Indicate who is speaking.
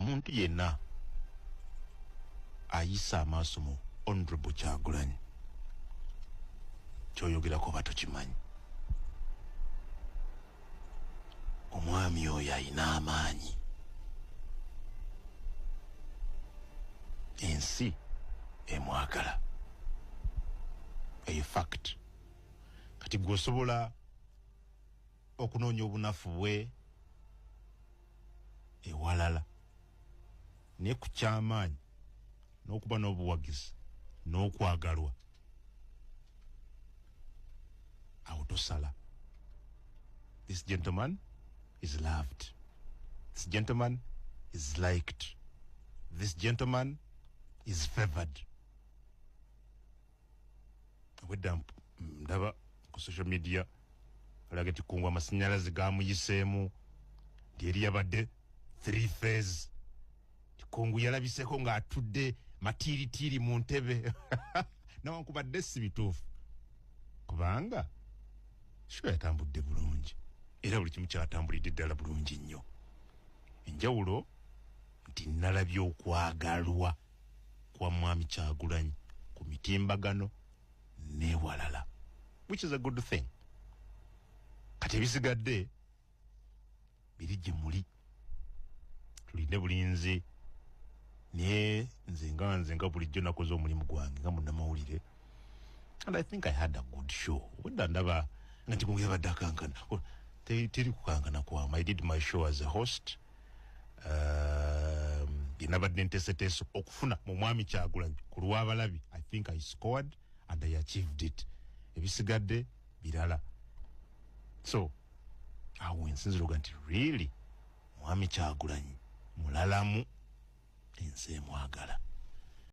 Speaker 1: muntu yenna ayisa amaaso mu honorable kyagulanyi kyoyogerako oba tokimanyi omwami oyo ayina amaanyi ensi emwagala eyo fact kati gweosobola okunoonya obunafu bwe ewalala naye ku kyamaanyi n'okuba n'obuwagizi n'okwagalwa awo tosala this gentleman is loved this gentleman is liked this gentleman is favored obwedda ndaba ku social media alaga nti kungu amasanyalaze gamuyiseemu nti eri yabadde three phase ti kungu yalabiseko ng'atudde matiiritiiri mu ntebe nawankubadde si bituufu kubanga shuwa yatambudde bulungi era buli kimu kyatambulidde ddala bulungi nnyo enjawulo nti nalabye okwagalwa kwa mwami kyagulanyi ku mitimbagano newalala which is a good thing kati ebisigadde biri gye muli tulinde bulinzi naye nze nga nze nga bulijjo nakoze omulimu gwange nga munamawulire and i think i had a good show weda ndaba nga nti mugera badde akankana teri kukankana kwama i did my show as a host um, yenabadde nteseteeso okufuna mu mwami kyagulanyi ku lwabalabi i think i scored and i achieved it ebisigadde birala so awo wensinzira oga nti really mwami kyagulanyi mulalamu ensi emwagala